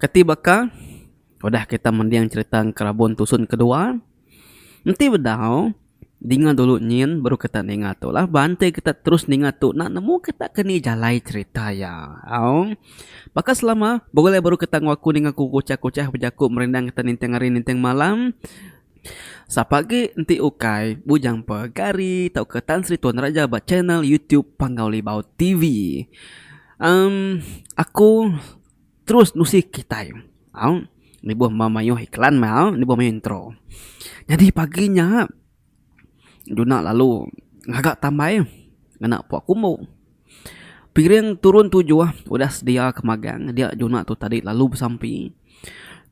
Kati baka udah kita mending cerita Enkerabun Tusun Kedua, enti bedau dinga dulu nyin baru kita ninga tu lah. Ba enti kita terus ninga tu enda nemu kita ke ni jalai cerita iya. Au. Baka selama bulih baru kita enggau aku ninga ku Kuchah-Kuchah bejaku merindang kita ninting hari ninting malam. Sapa agi enti ukai Bujang Pegari tauka Tan Sri Tuan Raja ba channel YouTube Panggau Libau TV. Em aku. Terus nusi kitai. Au. Nibuh ma mayuh iklan meh au. Nibuh mayuh intro. Nyadi pagi nya Juna lalu ngaga tambai ngena puak kumbu. Piring turun tujuh udah sedia ke magang. Dia Juna tu tadi lalu besampi.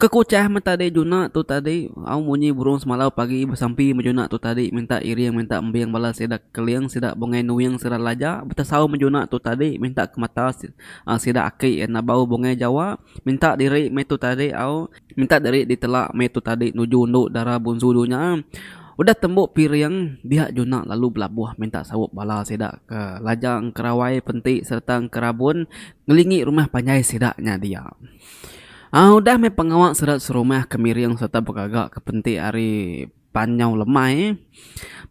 Ke kuchah meh tadi Juna tu tadi au munyi burung semalau pagi besampi meh Juna tu tadi minta iring minta embing bala sida keling sida bungai nuing sida laja betesau meh Juna tu tadi minta ke mata. Ang sida aki iya enda bau bungai jawa minta diri meh tu tadi au minta diri ditela meh tu tadi nuju endu dara bunsu dunya udah tembu piring dia juna lalu belabuh minta saup bala sida ke lajang engkerawai penti sereta engkerabun ngelingi rumah panjai sida nya dia udah meh pengawa sida serumah ke miring sereta begaga ke penti ari. Pan nyau lemai.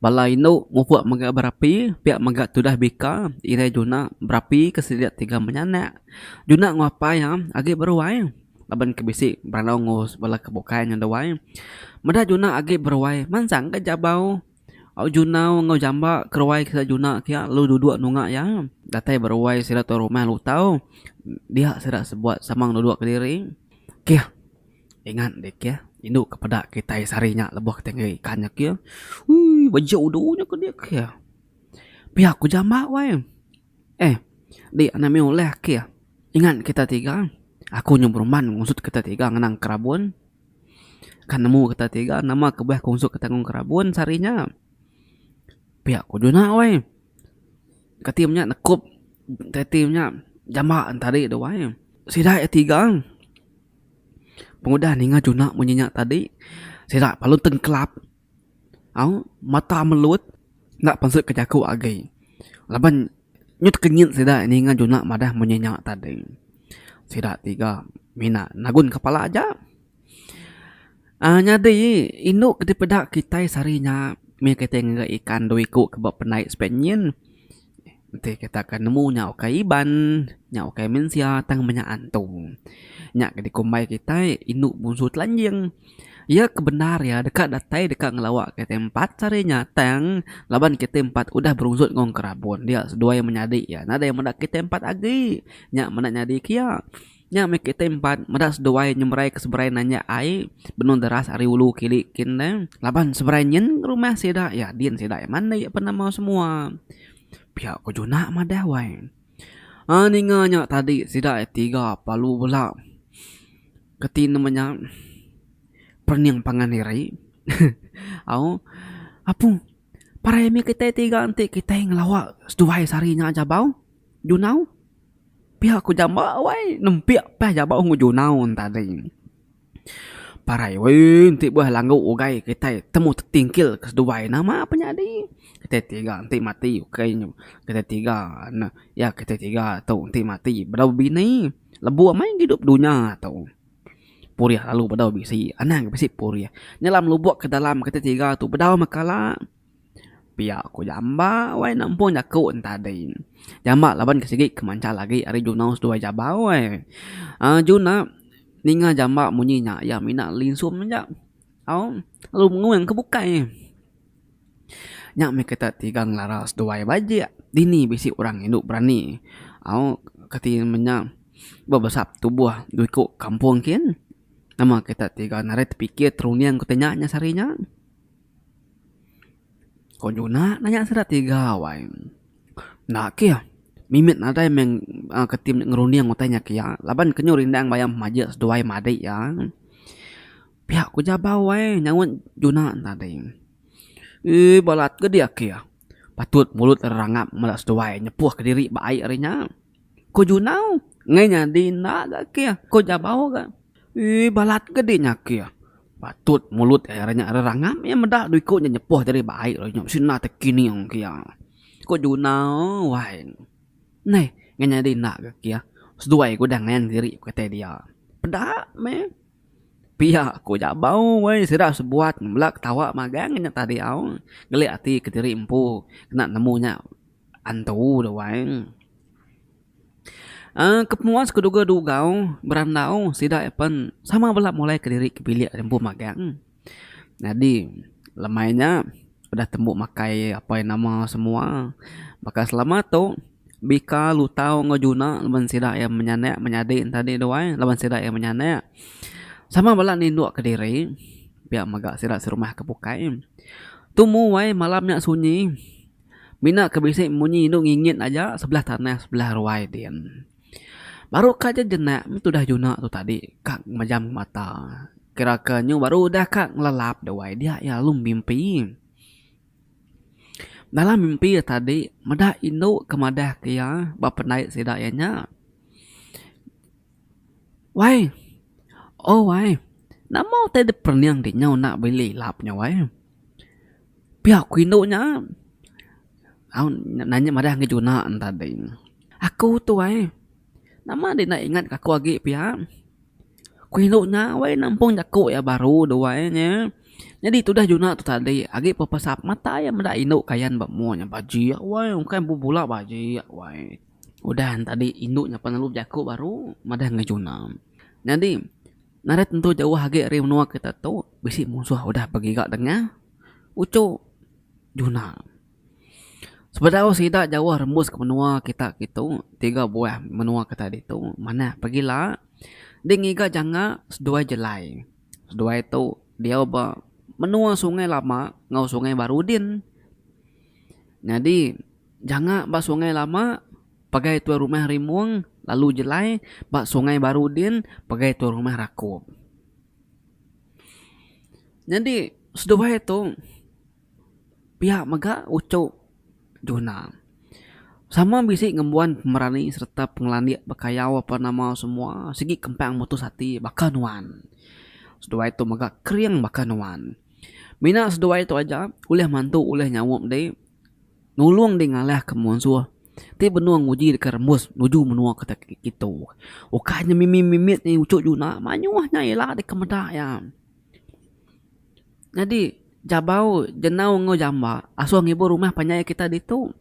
Bala indu mupuk mega berapi, pia mega tudah bika irai juna berapi ke sida tiga menyanak. Juna enggau apai agi beruai laban ke bisi berandau enggau bala ke bukai nyau duai. Meda juna agi beruai mansang ka jabau au junau enggau jamba ke ruai sida juna ke lalu duduk nunga iya. Datai beruai sida tu rumah lutau dia sida sebuat samang duduk kediri. Keh. Ingat deh kia, indu ke peda kitai sehari nya lebuh kitai ngagai ikan nya kia. Uii bejo udu nya ke dia kia. Pia ku jamba wai. Eh di ane mih ulih kia. Ingat kita tiga, aku nyau beruman ngusut kita tiga ngenang kerabun. Kan nemu kita tiga nama kebuah ku ngusut kita ngenang kerabun sehari nya. Pia ku juna wai. Kati menya nekup kati menya jamba tadi tu wai. Sida iya tiga. Pengudah ninga juna munyi nya tadi sida lalu tengkelap au mata melut enda pansu ke jaku agi laban nyut kenyit sida ninga juna madah munyi nya tadi sida tiga mina nagun kepala aja uhh nyadi indu ti peda kitai sehari nya mih kitai ngagai ikan dua iku ke ba penai sibat nyin. Enti kita ke nemu nya ukai Iban, nya ukai mensia tang meh nya antung. Nya ke dikumbai kitai indu munsu telanjing. Iya ke bendar iya deka datai deka ngelawa kitai empat sehari nya tang laban kitai empat udah berunzut enggau Engkerabun dia seduai menyadi iya nadai meda kitai empat agi. Nya meda nyadi ke iya. Nya meh kitai empat meda seduai nyemeraika seberai nanjak ai benung deras ari ulu kili kin deh. Laban seberai nyin rumah sida iya din sida iya mandi iya penemu semua. Pia ko Juna madah wai. Aa ninga nya tadi sida iya tiga pelalu bela keti nama nya perening pangan diri. Au apu parai mih kitai tiga enti kitai ngelawa seduai sehari nya aja bau Juna au. Pia ku jamba wai nempik pah jaba ungu junau tadi. Parai weh enti beuh langgu ugai kitai temu tetingkil ke seduai nama pun nyadi. Kitai tiga enti mati ukai nyu kitai tiga ne ya kitai tiga tu enti mati bedau bini lebuh amai idup dunya tu. Purih lalu bedau bisi anang bisi purih. Nyelam lubok ke dalam kitai tiga tu bedau meh kala. Pia ku jamba wai nempung jaku en tadi. Jamba laban ke sigi kemanchal agi ari junau seduai jaba wai. uhh juna ninga jamba munyi nya iya mina linsun aja au lalu menguang ke bukai. Nya meh kita ti ga ngelara seduai bajik dini bisi orang indu berani au kati menya bebesap tubuh iku kampung kin nama kita ti ga narit tepikir terunding ku tanya nya sehari nya. Ko nyuna nanya sida tiga awai enda keh mimit nadai meh ke tim nya ngerunding utai nya kia laban ke nyu rindang bayar majek seduai madik iya pia ku jabau wai nyaunt juna tadi eii balat ke dia kia patut mulut rangap meda seduai nyepuh kediri ba ai ari nya. Ko Junau, Ngai nyadi enda ga keh, ko Jabau ga. Ii, balat ke di nya keh. Patut mulut iya re nya rerangap iya meda dua iku nya nyepoh ti ari baik lalu nya bisi enda tekining ke iya. Ko Junau, Wai. Neh, ngai nyadi enda ga keh. Seduai ke udah ngayan diri ku kitai dia. Peda meh. Pia ko Jabau, Wai, sida sebuat bela ketawa magang nya tadi au. Ngelik ati kediri empu kena nemu nya. Antu da wang. Uhh ke penua sku duga dugau berandau sida iya pen sama bala mulai kediri ke bilik ri empu magang. Nyadi lemai nya udah tembu makai apai nama semua. Baka selama tu bika lutau enggau juna laban sida iya menyanak menyadi ne tadi da wang laban sida iya menyanak sama bala nindok kediri pia mega sida serumah ke bukai. Tu mung wai malam nya sunyi. Mina ke bisi munyi indu ngingit aja sebelah tanah sebelah ruai din. Baru ka aja jenak meh tudah juna tu tadi ka majam mata. Kira ke nyu baru udah ka ngelelap duai dia iya lalu mimpi. Dalam mimpi iya tadi meda indu ke madah ke iya ba pendai sida iya nya. Wai oh wai nama utai dep perening di nya enda beli lap nya wai. Pia ku indu nya nanya madah agi juna ne tadi aku tu ai nama enda ingat ingat aku agi pia ku indu nya wei nampung jaku iya baru duai inya nyadi tudah juna tu tadi agi pun pesak mata iya meda indu kayan ba mua nya bajik wai bukai empu bula bajik wai udah ne tadi indu nya pelalu bejaku baru madah agi juna nyadi. Nadai tentu jauh agi ari menua kita tu bisi munsuh udah begiga dengah uchu juna. Sebedau sida jauh rembus ke menua kita kitu tiga buah menua kita ditu manah pegila deh ngiga janga seduai jelai. Seduai tu diau ba menua sungai lama enggau sungai baru din. Nyadi janga ba sungai lama. Pagai tuai rumah Rimong lalu jelai ba Sungai Baru din pagai tuai rumah Rakup. Nyadi seduai tu pia mega uchu Juna. Sama bisi ngembuan pemerani sereta pengelandik bekayau apan nama semua sigi kempang mutus ati baka nuan. Seduai tu mega kering baka nuan. Mina seduai tu aja ulih mantu ulih nyaup dek. Nulung dih ngalahka munsuh ti benung nguji deka rembus nuju menua kita kitu. Ukai nya mimi mimit nya uchu juna mayuh nya ila deka meda iya. Nyadi jabau jenau enggau jamba asuh ngibur rumah panjai kita ditu.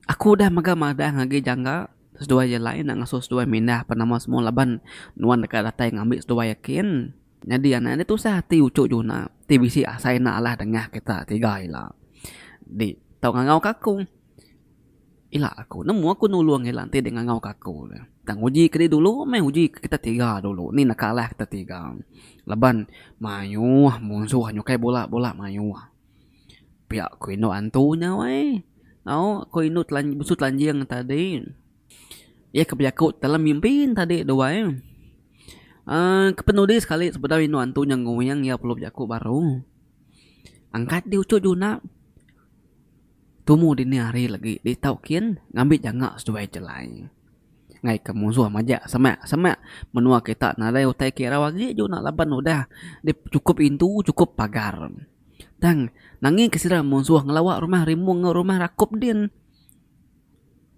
Aku udah mega madang agi jangka seduai jalai enda ngasuh seduai mindah penama semua laban nuan deka datai ngambi seduai kin. Nyadi anak nya tusah ati uchu juna ti bisi asai enda alah dengah kita tiga ila. Di tau ngangau ka aku ila aku nemu aku nulung ila enti deh ngangau ka aku le. Tang uji ke dulu deh meh uji ke kita tiga dulu ni neka alah kita tiga laban mayuh munsuh nyukai bula bula mayuh. Pia ku indu antu nya weh. Au ku indu telan besu telanjing tadi. Iya ke bejaku dalam mimpi nya tadi tu wai uhh kepenudi sekali sebedau indu antu nya nguing iya perlu bejaku baru angkat di uchu juna tumu dini hari lagi ditau kin ngambi janga seduai jalai ngai ke musuh maja sema sema menua kita nadai utai ke irau agi juna laban udah chukup indu chukup pagar tang nangin ke sida musuh ngelawa rumah rimung rumah rakup din.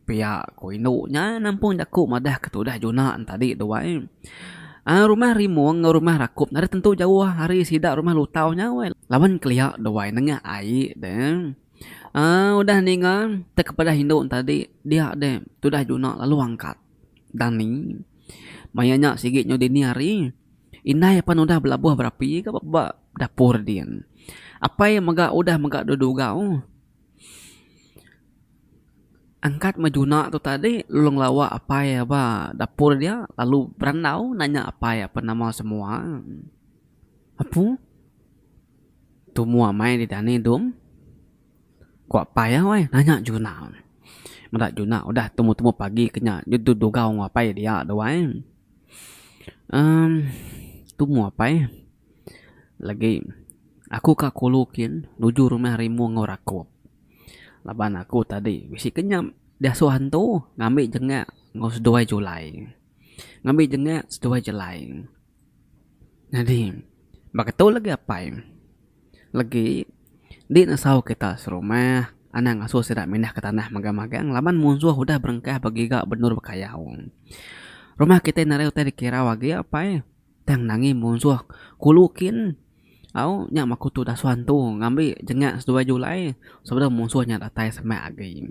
Pia ku indu nya nampung jaku madah ke tudah Juna entadi tu ai. Ai rumah Rimong enggau rumah Rakup nadai tentu jauh ari sida rumah Lutau nya weh laban kelia tu ai nengah ai deh. Ai udah ninga teka pedah indu entadi dia deh tudah Juna lalu angkat Dani maya nya sigi nyau dini hari indai apan udah belabuh berapi ka ba dapur din. Apai mega udah mega dua dugau. Angkat bejuna tu tadi lalu ngelawa apai iya ba dapur dia lalu berandau nanya apai iya apan nama semua. Apu tumu amai di dani dong ku apai iya weh nanya juna. Meda juna udah tumu tumu pagi ke nya deh tu dugau enggau apai iya dia tu weh. uhh Tumu apai. Lagi aku ka kulu kin nuju rumah rimu enggau rakup laban aku tadi bisi kenyap diasuh hantu ngambi jenga enggau seduai julai ngambi jenga seduai jelai nyadi ba ketu lagi apai lagi indi nesau kita serumah anang ngasuh sida mindah ke tanah magang magang laban munsuh udah berengkah begiga benur bekayau rumah kita narai utai dikirau agi apai. Tang Nangi munsuh kulu kin au nya makutu dasuan tu ngambi jengak seduai Julai sebedau munsuh nya datai semak agi.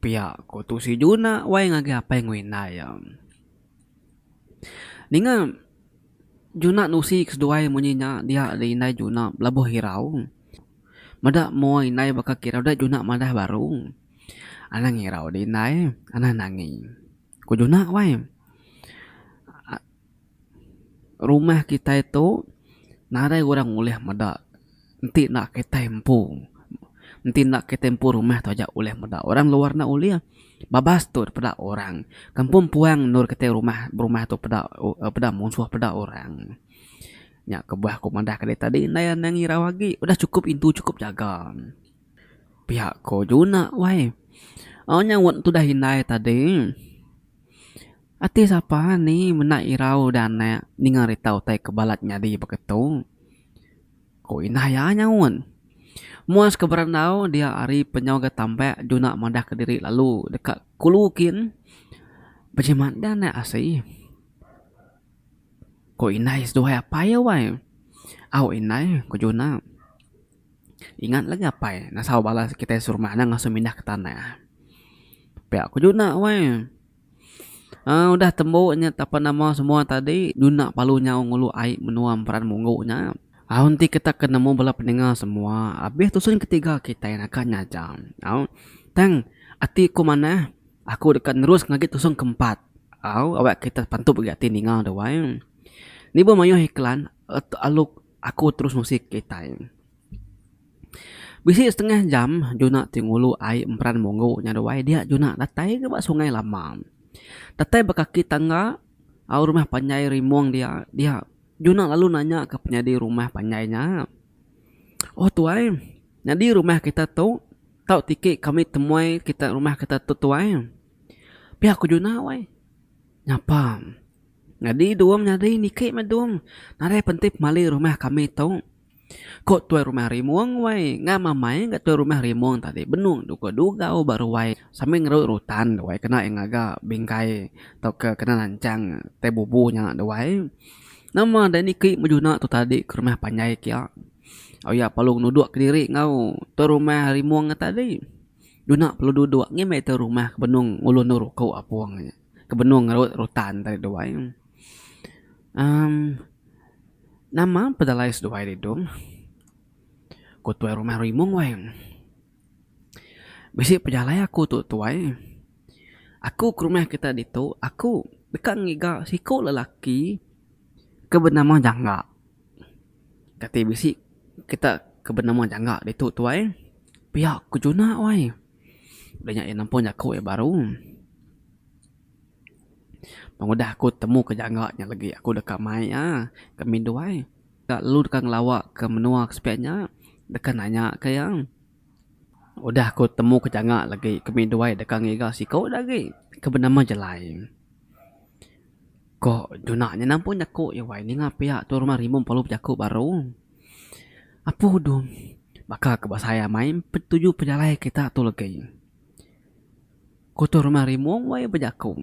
Pia ku Tusi Juna wai ngagai apai enggau indai iya. Ninga Juna nusi ke seduai munyi nya dia ari indai Juna belabuh irau meda mua indai baka ke irau da Juna madah baru. Anang irau di indai anang Nangi. Ku Junah wai. Rumah kitai tu narai orang ulih meda enti enda kitai empu. Enti enda kitai empu rumah tu aja ulih meda. Orang luar enda ulih. Babas tu peda orang. Kampung puang endur kitai rumah berumah tu peda peda musuh peda orang. Nya kebuah ku madahka diri tadi. Ndai anang irau agi. Udah chukup indu chukup jaga. Pia ko juna wai au nyaut tudah indai tadi ati sapa ni menda irau udah anak ninga rita utai ke balat nyadi baka tu ko ina iya nyaut. Muas ke berandau dia ari penyau ga tambak juna madah ke diri lalu deka kulu kin bejimat da anak asi ko indai seduai apai iya wai au indai ko juna. Ingat lagi apai ngasau bala kitai serumah nya ngasuh mindah ke tanah. Pia ku juna weh. Aaa udah tembu nya ape nama semua tadi juna palu nyau ngulu ai menua Emperan Munggu nya. Au enti kita ke nemu bala pendengar semua abih tusun ke tiga kitai naka nya aja. Au tang ati ku manah aku deka nerus ngagai tusun ke empat. Au awak kita pantup ati ninga dawai. Ni buh mayuh iklan alu Aku terus ngusik kitai. Bisi setengah jam Juna ti ngulu ai emperan munggu nya ruai dia Juna datai ga ba sungai lama. Datai ba kaki tangga au rumah panjai rimung dia dia Juna lalu nanya ka penyadi rumah panjai nya. Oh tuai nyadi rumah kita tu tau tiki kami temuai kita rumah kita tu tuai. Pia ku Juna wai. Nyapa. Nyadi Dum nyadi niki meh Dum nadai penti pemali rumah kami tu. Ko tuai rumah Rimong wai ngam amai ga tuai rumah Rimong tadi benung dukau dugau ba ruai sambil ngeroi rutan duai kena iya ngaga bingkai tauka kena nanchang tai bubu nya duai. Nama deh niki bejuna tu tadi ke rumah panjai kia. Au iya perlu nuduk kediri enggau tuai rumah Rimong tadi. Juna perlu duduk ngin meh iya tu rumah ke benung ngulu endur uku apung. ke benung ngerut rutan tadi duai emm nama pedalai seduai ri dong ku tuai rumah rimong wai bisi pejalai aku tu tuai aku ke rumah kita ditu aku deka ngiga siko lelaki ke benama jangga kati bisi kita ke benama jangga ditu tuai pia ke juna wai. Udah nya iya nempun jaku iya baru. Tang udah aku temu ke jangka nya lagi aku deka mai iya ke Midway. Ka lu deka ngelawa ke menua ke sepiak nya deka nanya ke iya. Udah aku temu ke jangka lagi ke Midway deka ngiga siku agi ke benama Jelai. Ko Duna nya nampun jaku iya wai ninga pia tu rumah rimun perlu bejaku baru. Apu udung baka ke ba saya amai empat tuju pejalai kita tu legi. Ko tu rumah rimung wai bejaku.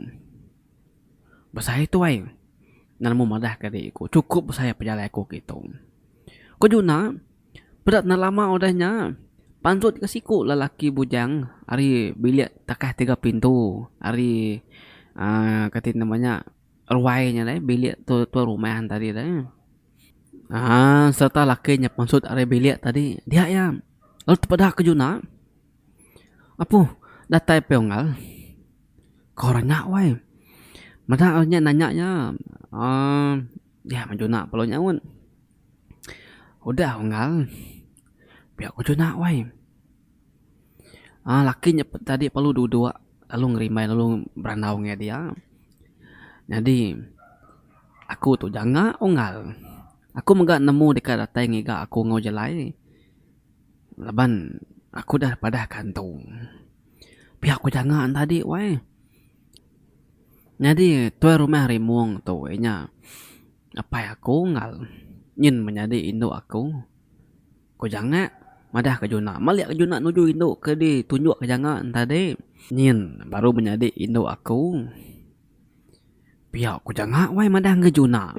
Besai tu wai ngan mu madah ke dik ku cukup besai pejalai ku kitu. Ko Duna. Peda tengah lama udah nya, pansut ka siku lelaki bujang ari bilik takah tiga pintu ari uhh kati nama nya ruai nya deh bilik tu tuan rumah tadi deh uhh sereta lelaki nya pansut ari bilik tadi dia iya lalu tepeda ke juna apu datai pia unggal ke orang nya weh meda orang nya nanya iya uhh dia meh juna pelu nyaut. Udah unggal pia ku juna wai aaa laki nya tadi perlu duduk lalu ngerimbai lalu berandau ngan dia nyadi aku tu janga unggal aku mega nemu deka datai ngiga aku enggau jalai laban aku dah padah kantu pia ku janga ne tadi wai nyadi tuai rumah rimung tu inya. Apai aku unggal nyin menyadi indu aku. Ku janga madah ke juna. Malik ke juna nuju indu ke di tunjuk ke janga tadi. Nyin baru menyadi indu aku. Pia ku janga wai madah nge juna.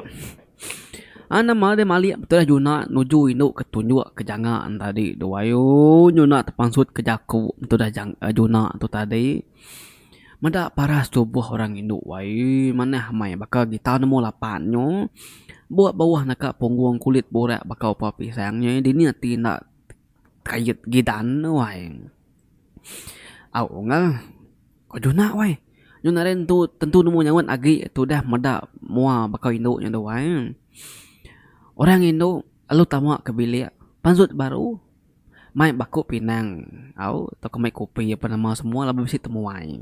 An nama deh malik betulah juna nuju indu ke tunjuk ke janga tadi tu. Ayoo juna tepansut ke jaku betudah jang juna tu tadi. Meda paras tubuh orang indu ai manah amai baka gitar number lapan nyo buak bauh naka punggung kulit burak baka upa pisang nyo dini ati enda kait gidan tu ai au nga ko juna wai nyun ari ntu tentu nemu nyaut agi tu dah meda mua baka indu nyo tu ai orang indu lalu tama ke bilik panjut baru. Mai baku pinang au tauka mai kopi apan nama semua laban bisi temuai.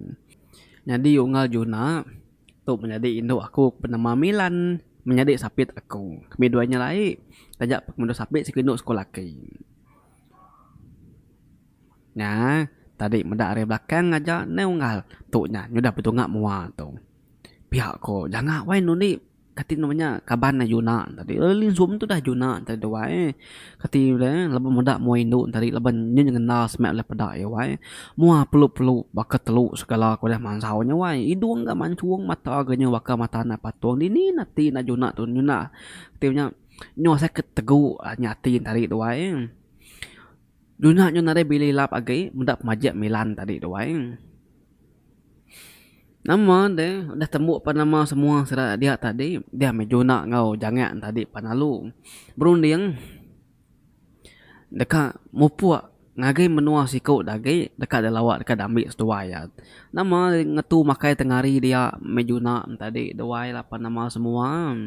Nyadi unggal Juna tu menyadi indu aku ke benama Milan menyadi sapit aku. Kami dua nya alai taja pun pengendu sapit siku indu sekula ati. Nya tadi meda ari belakang ngaja neh unggal tu nya nyudah betunga mua tu. Pia ko janga wai nundi. Kati nama nya kaban ne Yuna tadi eh lilin sum tu udah Yuna tadi duai eh kati pula eh leba meda mua indu ne tadi leba nyin ngena seme leh peda iya wai eh mua pelu pelu baka telu segala ko deh mansau nya wai idung ga manchung mata ga nyau baka mata anak patung dini ne ati anak Yuna tu Yuna ti nya nyau asai ke tegu nya ati ne tadi duai eh Yuna nyau nadai bili lap agi meda pemaji milan tadi duai eh. Nama deh udah tembu pan nama semua sida dia tadi dia meh juna enggau jangek tadi pan lalu berunding deka mupuk ngagai menua siku da agi deka deh lawa deka deh ambi seduai iya. Nama ngetu makai tengari dia meh juna tadi duai lapan nama semua.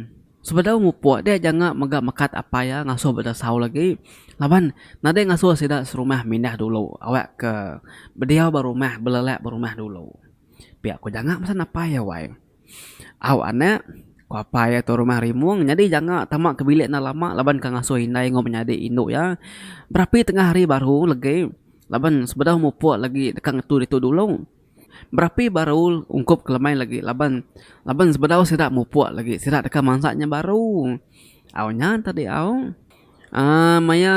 Sebedau ngupuk dia janga mega mekat apai iya ngasuh ba Dasau lagi laban nadai ngasuh sida serumah mindah dulu awak ke bediau ba rumah belelak ba rumah dulu. Pia ku janga mesen apai iya wai. Au anak, ku apai iya tu rumah rimung nyadi janga tama ke bilik enda lama laban ke ngasuh indai enggau menyadi indu iya berapi tengah hari baru legi laban sebedau mupuk lagi deka ngetu ditu dulu. Berapi baru ungkup ke lemai lagi laban laban sebedau sida mupuk lagi sida deka mansa nya baru. Au nya tadi au uhh maya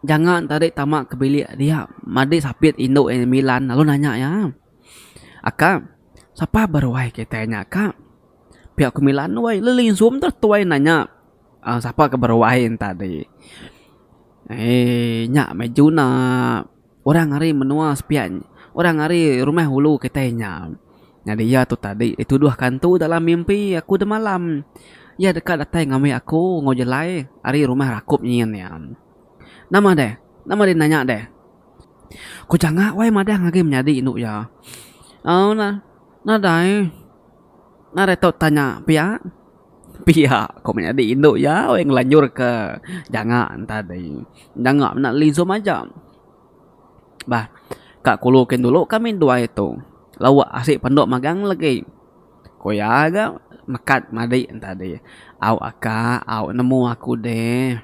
janga ne tadi tama ke bilik dia madi sapit indu iya Milan lalu nanya iya, Aka sapa beruai kitai nya ka? Pia ku Milan weh le linsu meh tu ai nanya uhh sapa ke beruai ne tadi. Eee nya meh juna. Orang ari menua sepiak orang ari rumah ulu kitai nya. Nyadi iya tu tadi dituduh kantu dalam mimpi aku demalam. Iya deka datai ngambi aku enggau jelai ari rumah rakup nyin iya. Nama deh? Nama deh nanya deh? Ku janga wai madang agi menyadi indu iya. Au nah. Nadai. Ngarai tu tanya pia. Pia ko menyadi indu iya weh ngelanjur ke janga tadi. Janga mena lizum aja. Bah ka kulu kin dulu kami duai tu lawa asik pendu magang legi. Ko iya ga mekat madi tadi. Au aka au nemu aku deh.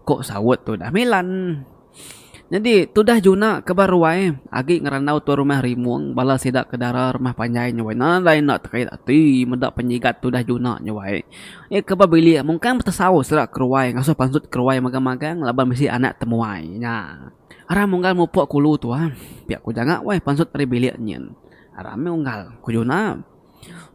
Ko saut tu dah milan. Nyadi tudah juna ke ba ruai agi ngerandau tuan rumah Rimong bala sida ke dara rumah panjai nyawai nadai enda tekait ati meda penyigat tudah juna nyawai iya ke ba bilik mungkang betesau sida keruai ngasuh pansut keruai magang magang laban bisi anak temuai nya aram unggal mupok kulu tuan pia ku janga weh pansut ari bilik nyin aram meh unggal ku juna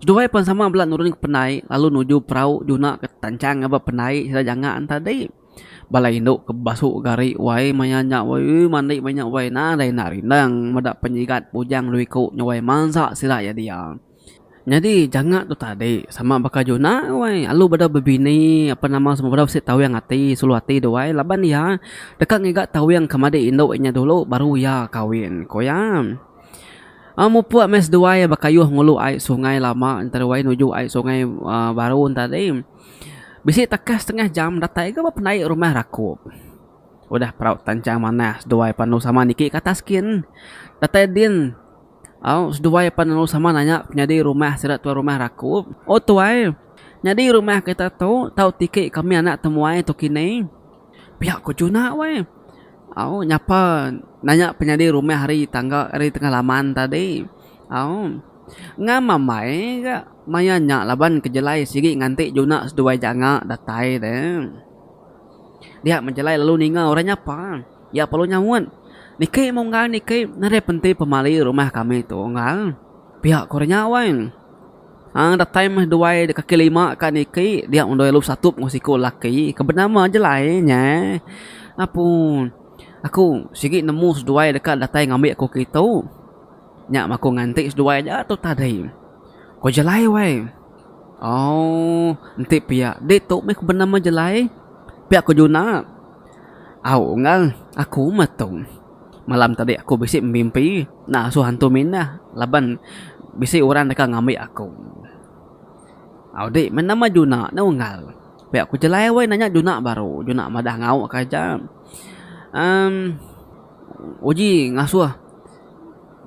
seduai pan sama bala nurun ke pendai lalu nuju perau juna ke tanchang ngaga pendai sida janga tadi. Bala indu ke bebasu gari wai maya nya wai ui mandi maya nya wai nadai enda rindang meda penyigat bujang lu iku nyawai mansa sida iya dia. Nyadi janga tu tadi sama baka juna wai alu bedau bebini apan nama semua bedau bisi tawing ati sulu ati dau wai laban iya deka ngiga tawing ke madi indu inya dulu baru iya kawin ku iya. Au mupuk meh seduai bekayuh ngulu ai sungai lama ntera wai nuju ai sungai aaa baru tadi. Bisi takas setengah jam datai ga ba pendai rumah rakup. Udah perau tanchang manah seduai panu sama niki ke atas gin. Datai din au seduai panu sama nanya penyadi rumah sida tuai rumah rakup. Oh tuai, nyadi rumah kita tu tau tiki kami anak temuai tu kini. Pia ku Juna weh. Au nyapa nanya penyadi rumah ari tangga ari tengah laman tadi. Au. Ngama mai ga maya nya laban kejelai sigi nganti juna seduai janga datai de. Dia mejelai lalu ninga orang nyapa. Iya perlu nyaut, Niki munggal niki nadai penti pemali rumah kami tu unggal. Pia ku orang nya wai. Aang datai meh duai de kaki lima ka niki dia meh duai lu satup enggau siku laki ke benama jelai nya. Apu aku sigi nemu seduai deka datai ngambi aku kitu. Nya maku nganti seduai aja tu tadi. Ko Jelai wai. Aww enti pia ditu meh ku benama Jelai. Pia ko Juna. Au enggau aku meh tu. Malam tadi aku bisi bemimpi ngasuh hantu minah laban bisi orang deka ngambi aku. Au di meh nama Juna nya unggal. Pia ko Jelai wai nanya Juna baru. Juna madah ngau ka aja. Umm uji ngasuh.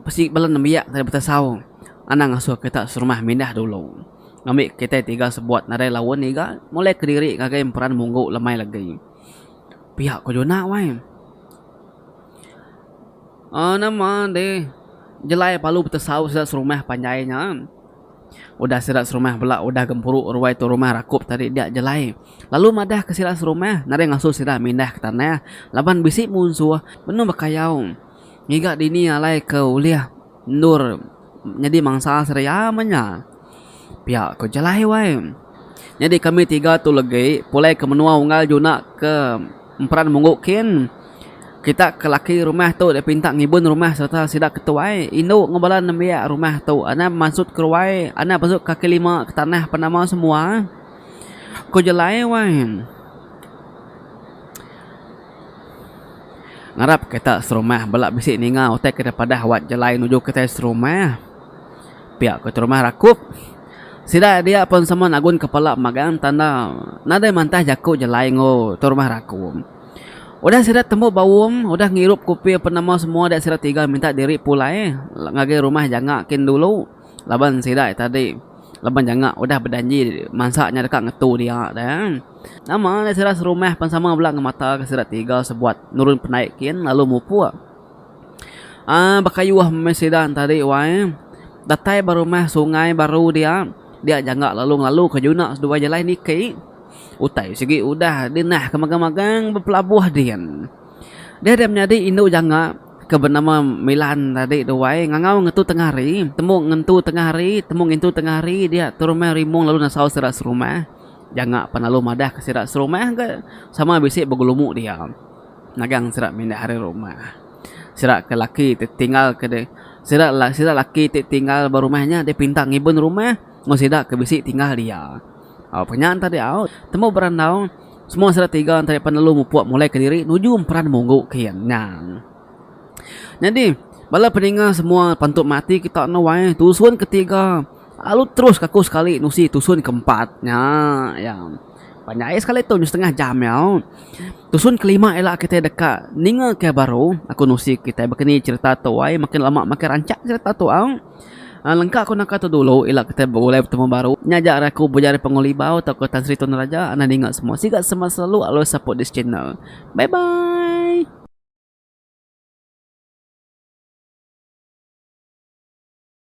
Besi bala nembiak nadai betasau anang ngasuh kita serumah mindah dulu. Ngambi kitai tiga sebuat nadai laun ngiga mulai kediri ngagai emperan munggu lemai lagi. Pia ko juna wai. Aaa nama deh jelai palu betasau sida serumah panjai nya. Udah sida serumah bela udah gempuru ruai tu rumah rakup tadi dia jelai lalu madah ke sida serumah nadai ngasuh sida mindah ke tanah laban bisi munsuh benung bekayau. Ngiga dini alai ke ulih endur nyadi mansa Seria meh nya? Pia ku Jalai wai. Nyadi kami tiga tu legi pulai ke menua unggal juna ke emperan munggu kin. Kita ke laki rumah tu dipinta ngibun rumah sereta sida ke tuai indu enggau bala nembiak rumah tu anang bemansut ke ruai anang bemansut ke kaki lima ke tanah pan nama semua, ku Jalai wai. Ngarap kita serumah bela bisi ninga utai ke padah wat jalai nuju kitai serumah. Pia ku terumah rakup. Sida dia pun sama nagun kepala magang tanda nadai mantah jaku jalai enggau terumah rakup. Udah sida tembu baum, udah ngirup kopi apan nama semua dia sida tiga minta diri pulai ngagai rumah janga kin dulu laban sida tadi laban janga udah bejanji mansa nya deka ngetu dia dah. Nama alai sida serumah pan sama bela ngemataka sida tiga sebuat nurun penai kin lalu mupuk. Ah bekayuh meh sida entadi wai. Datai ba rumah sungai baru dia, dia jangka lalu ngelalu ke juna seduai jalai niki. Utai sigi udah di nahka magang-magang bepelabuh din. Dia dia menyadi indu jangka ke benama Milan tadi tu wai ngangau ngetu tengah hari, temu ngentu tengah hari, temu ngintu tengah hari dia terumah rimung lalu nesau sida serumah. Jangak pan lalu madah ke sida serumah ke sama bisi begelumu dia nagang sida mindah ari rumah. Sida ke laki ti tinggal ke de sida sida laki ti tinggal ba rumah nya deh pinta ngiben rumah enggau sida ke bisi tinggal dia. Au pa nya enta diau tembu berandau semua sida tiga enta deh pan lalu mupuk mulai ke diri nuju emperan munggu kin nya. Nyadi bala peninga semua pentu mati kita nuai tusun ke tiga. Lalu terus ka aku sekali nusi tusun ke empat nya iya. Panjai iya sekali tu nyau setengah jam iya. Tusun ke lima ila kitai deka ninga ke baru aku nusi kitai baka ni cherita tu ai makin lama makin rancak cherita tu au. Aa lengka ku naka tu dulu ila kitai begulai betemu baru. Nya ja ari aku bejari pengulibau tauka Tan Sri Tun Raja enda ninga semua. Siga sema selalu always support this channel. Bye bye.